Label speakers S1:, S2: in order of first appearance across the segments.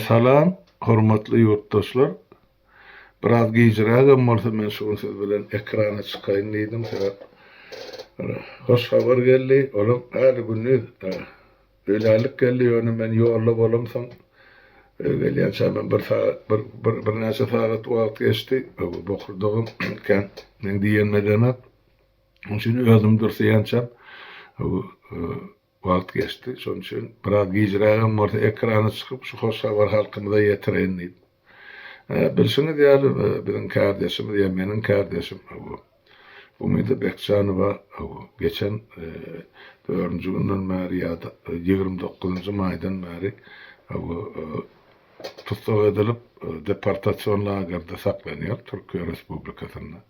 S1: Salam, hormatly ýurtdaşlar! Biraz gijrägem bolsa men şu gün siz bilen ekrana çykaýyn diýdim, sebäp bir hoş habar geldi, olam häli gündiz öýlänlik geldi, ýöne men ýolda bolamsoň, öýe gelýänçä men bir sagat, bir, bir, birnäçe sagat wagt geçdi, bu bokurdagam kän meň diýenime deňäp, onuň üçin özüm dürseýänçäm, Wagt geçdi, şonuň üçin biraz gijrägem bolsa ekrana çykyp şu hoş habary halkymyza ýetireýin diýip. Hä, bilşiňiz ýaly, biziň kärdeşimiz ýa meniň kärdeşim, hawa, Umyda Bekjanowa, hawa, geçen dördünji günden bäri ýa-da ýigrimi dokuzynjy maýdan bäri, hawa, tussag edilip, deportasion lagerde saklanýar, Türkiýe Respublikasynda.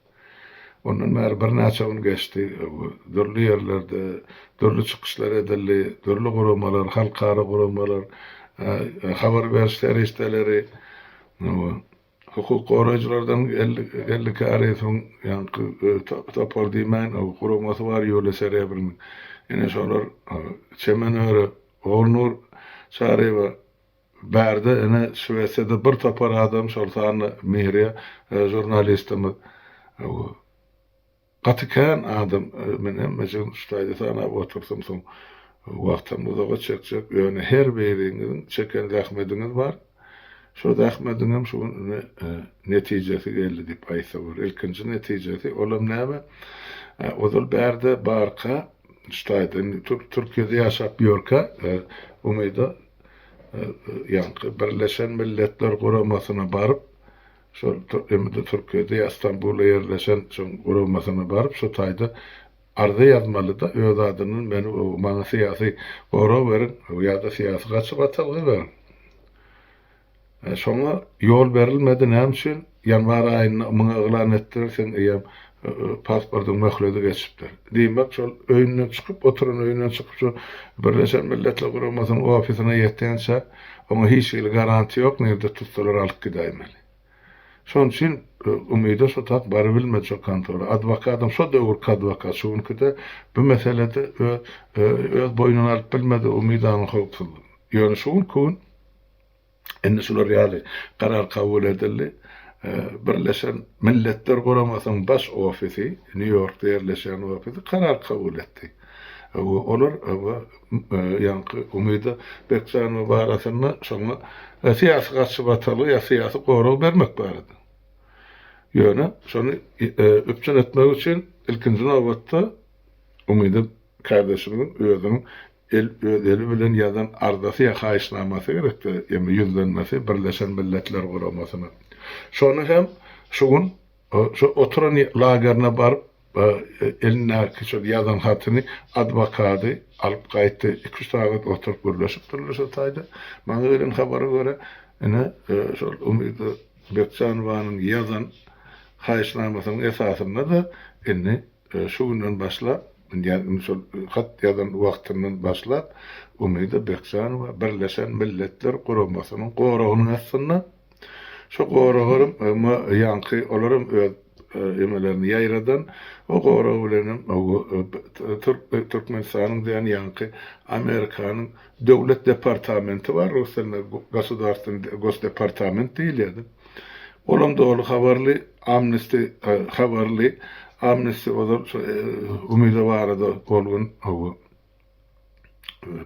S1: Ondan bäri birnäçe gün geçdi. Dürli ýerlerde dürli çykyşlar edildi. Dürli guramalar, halkara guramalar, habar beriş serişdeleri, hukuk goraýjylardan geldi käri, soň ýaňky topar diýmäýin, guramasy bar Ýuliýa Serebrynyň. Ine şolar Çemen öri Ogulnur Çaryýewa Bärde ine Şwesiýada bir topar adam şol sanda Mihriýa žurnalistimiz gaty kän adam men hemmejigini şu taýda sanap otursam soň wagtam uzaga çekjek ýöne her biriňiziň çeken zähmediňiz bar şo zähmediňem şu gün ine netijesi geldi diýip aýtsa bolar ilkinji netijesi olam näme ozal bärde barka şu taýda indi Türkiýede ýaşap ýörkä Umyda ýaňky Birleşen Milletler Guramasyna baryp, şol indi Türkiýede ýa Stambulda ýerleşen şoň guramasyna baryp, şu taýda arza ýazmaly-da, öz adyndan meni maňa syýasy gorag beriň ýa-da syýasy gaçybatalga beriň. Şoňa ýol berilmedi, näme üçin? Ýanwar aýynda ymyň yglan etdiler, seň eýýäm pasportyň möhledi geçipdir. Diýmek, şol öýünden çykyp, oturan öýünden çykyp, şu Birleşen Milletler Guramasynyň ofisyna ýetýänçä, oňa hiç hili garantiýa ýok, nirde tutsalar alyp gidäýmeli. Şonuň üçin Umyda şu taýyp barybilmedi şo kontora. Adwokadam şo döwürki adwokat, şu günki-de bu meselede öz boýnuna alyp bilmedi Umydanyň howpsuzlygyny. Ýöne şu günki gün. Indi şular ýaly karar kabul edildi. Birleşen Milletler Guramasynyň baş ofisi, Nýu-Ýorkda ýerleşýän ofisi karar kabul etdi. Olar ýaňky Umyda Bekjanowa barasynda şoňa syýasy garçybatalga ýa syýasy gorag bermek barada. Ýöne şony üpjün etmek üçin ilkinji nobatda Umyda Kardeşimiziň özüniň el öz eli bilen ýazan arzasy ýa haýyşnamasy gerekdi, ýagny ýüzlenmesi Birleşen Milletler Guramasyna. Şony hem şu gün şu oturan lagerine baryp elindäki şol ýazan hatyny adwokady alyp gaýtdy. Iki-üç sagat oturyp gürleşipdirler şu taýda. Maňa gelen habara görä ine şol Umyda Bekjanowanyň ýazan haýyşnamasynyň esasynda-da indi Şu günden başlap, ýagny şol hat ýazan wagtyndan başlap Umyda Bekjanowa Birleşen Milletler Guramasynyň goragynyň astynda. Şu goragam emma ýaňky olar hem öz emelerini ýaýradan o gorag bilen hem Türkmenistanyň diýen ýaňky Amerikanyň döwlet departamenti bar, rus dilinde Gosudarstwenny gosdepartament diýilýärdi. Olam doly habarly Amnesty habarly Amnesty ozal şu Umyda barada ol gün hawa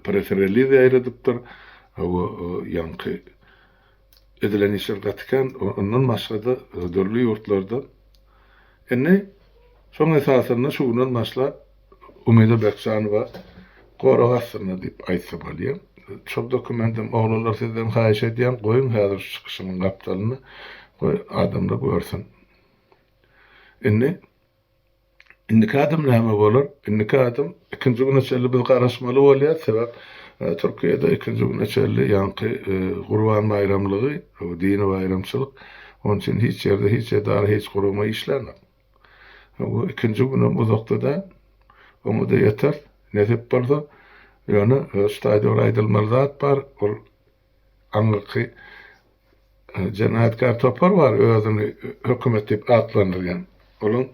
S1: press reliz ýaýradypdyr. Hawa ýaňky edilen işler gaty kän. Ondan başga-da dürli ýurtlarda. Indi şoň esasynda şu günden başlap Umyda Berkjanowa gorag astynda diýip aýtsa bolýa. Şol dokumentim oglanlar sizden haýyş edýän goýuň häzir şu çykyşymyň gapdalyna goý adamlar görsün. Indi indiki adam näme bolar? Indiki adam ikinji güne çenli biz garaşmaly bolýar sebäp Türkiýede ikinji güne çenli ýaňky Gurban baýramlygy dini baýramçylyk onuň üçin hiç ýerde hiç edara hiç gurama işlänok. Hawa, ikinji günem uzakda-da, oňa-da ýeter, nesip bolsa. Ýöne şu taýda bir aýdylmaly zat bar, ol aňyrky jenaýatkär topar bar, özüni hökümet diýip atlandyrýan. Olaň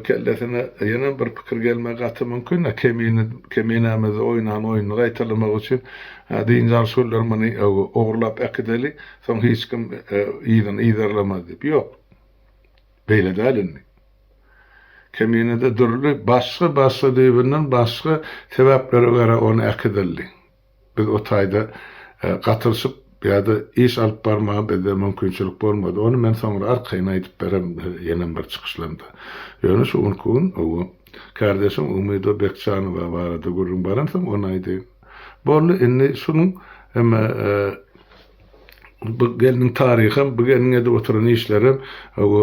S1: kellesine ýenem bir pikir gelmegi gaty mümkin-dä, kemine, keminämizde oýnan oýnuny gaýtalamak üçin dynç alyş günleri muny ogurlap äkideli, soň hiç kim yzyny yzarlamaz diýip. Ýok. Beýle däl indi. Keminede dürli başga başga düýbünden başga sebäplere görä ony äkidildi. Biz o taýda gatyryşyp ýa-da iş alyp barmaga bizde mümkinçilik bolmady. Ony men soňra arkaýyn aýdyp bererin ýenem bir çykyşlarymda. Ýöne şu günki gün owo. Kärdeşiň Umydo Bekjanowa barada gürrüň baransoň ony aýdaýyn. Boldy indi şunuň hem bu gelniň taryham bu gelniň edip oturan işlerem bu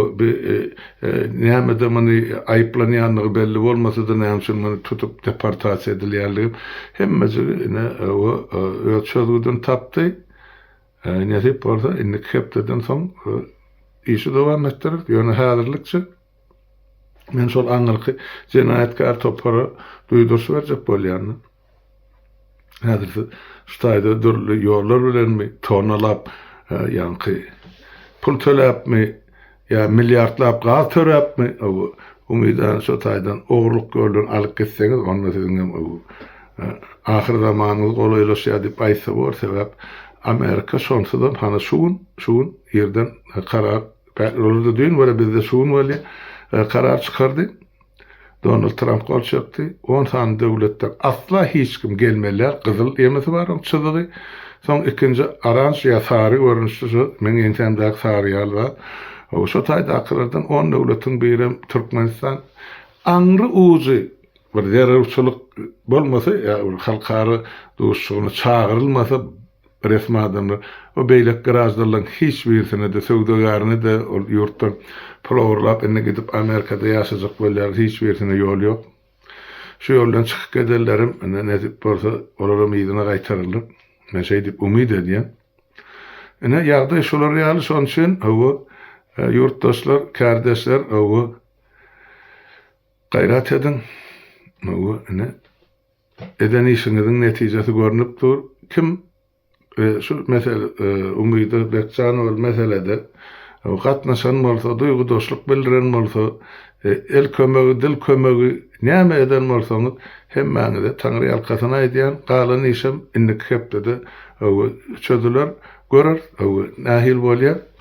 S1: nämede muny aýyplanýandygy belli bolmasada näme üçin muny tutup deportasiýa edilýändigim hemmejigi ine bu öz çözgüdini tapdy. Nesip bolsa indiki hepdeden soň işi dowam etdireris ýöne häzirlikçe men şol aňyrky jenaýatkär topara duýduryş berjek bolýan. Häzir siz şu taýda dürli ýollar bilenmi, tonnalap, ýaňky pul töläpmi, ýa milliardlap gaz töläpmi, umydany şo taýdan ogurlyk ýoldan alyp gitseňiz, onda siziň hem ahyr zamanyňyz golaýlaşýar diýip aýtsa bolar, sebäp Amerika şonsuzam hany şu gün, şu gün irden karar, olarda düýn bolýar, bizde şu gün bolýar, karar çykardy. Donald Tramp gol çekdi. On sany döwletden asla hiç kim gelmelär, gyzyl emesi bar oň çyzygy. Soň ikinji oranž ýa sary görnüşli şu meň ýeňsämdäki sary ýaly zat. Şo taýdakylardan on döwletiň birem Türkmenistan. Aňry ujy bir zerurçylyk bolmasa ýa bir halkara duşuşygyna çagyrylmasa, resmi adamlar we beýleki graždanlaryň hiç birisine-de, söwdagärine-de ol ýurtdan pul ogurlap, indi gidip Amerikada ýaşajak bolýarlar, hiç birisine ýol ýok. Şu ýoldan çykyp gedenlerim, indi nesip bolsa, olaram yzyna gaýtarylar. Men şeý diýip umyt edýän. Ine, ýagdaý şular ýaly, şonuň üçin, hawa, ýurtdaşlar, kärdeşler, hawa, gaýrat ediň, hawa, ine. Eden işiňiziň netijesi görnüp dur kim şu mesel Umyda Bekjanowaly meselede gatnaşan bolsa duýgudaşlyk bildiren bolsa el kömegi dil kömegi näme eden bolsaňyz hemmäňize taňryýalkasyn aýdýan galan işem indiki hepdede çözüler göreris nähili bolýar.